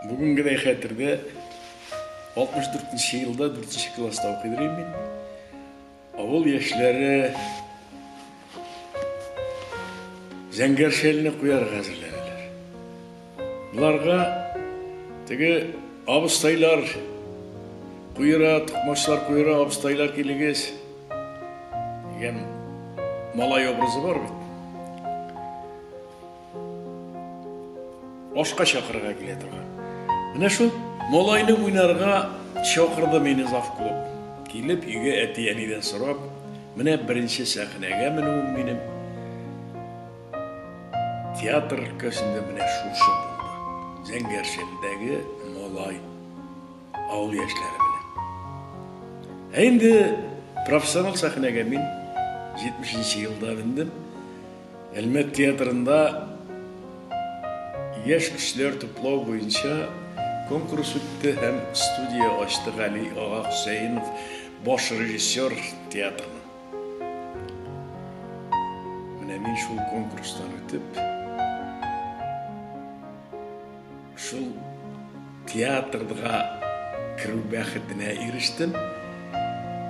Бүгенгедәй хәтердә 64 нче елда 4 нче класста укыйдыр идем мин. Авыл яшьләре зәңгәр шәлне куярга әзерләнәләр. Боларга теге абыстайлар куера, токмачлар куера, абыстайлар килегез дигән малай образы бар бит. Ашка чакырырга килә торган. Менә шул малайны уйнарга чакырды мине завклуб. Килеп, өйгә әти-әнидән сорап, менә беренче сәхнәгә менүем минем театр өлкәсендә менә шушы булды. Зәңгәршәлдәге малай авыл яшьләре белән. Ә инде профессионал сәхнәгә мин 70 елда мендем. Әлмәт театрында яшь кешеләр туплау буенча конкурс үтте һәм студия ачты Гали ага Хөсәенов, баш режиссер театрның. Менә мин шул конкурстан үтеп, Шул театрга керү бәхетенә ирештем.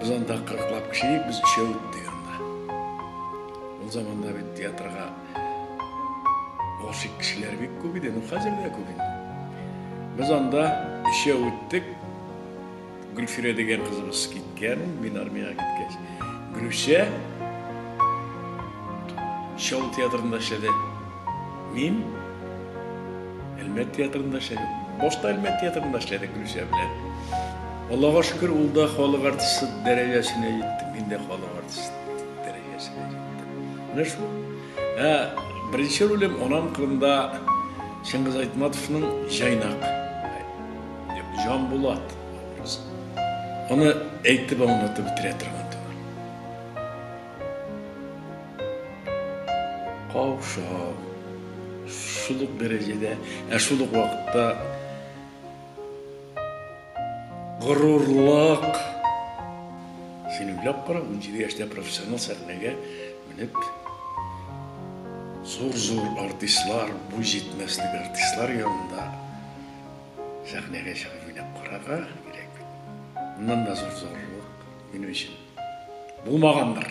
Без анда кырыклап кеше идек, без өчәү иттек анда. Ул заманда бит театрга гашыйк кешеләр бик күп иде, ну хәзер дә күп инде. Без анда өчәү иттек. Гөлфирә дигән кызыбыз киткән, мин армиягә киткәч. Гөлүсә Чал театрында эшләде. Мин Әлмәт театрында эшләдем. Башта Әлмәт театрында эшләдек Гөлүсә белән. Аллага шөкер, ул да халык артисты дәрәҗәсенә җитте, мин дә халык артисты дәрәҗәсенә җиттем. Менә шул. Ә беренче ролем анам кырында Чыңгыз Айтматовның Җайнак. Җанбулат образы. Аны әйтеп аңлатып бетерә торган түгел. Каушау, шул ук дәрәҗәдә, ә шул ук вакытта горурлык. Син уйлап кара, 17 яшьтә профессионал сәхнәгә менеп зур-зур артистлар, буй җитмәслек артистлар янында Сәхнәгә чыгып уйнап карарга кирәк бит. Моннан да зур зурлык минем өчен булмагандыр.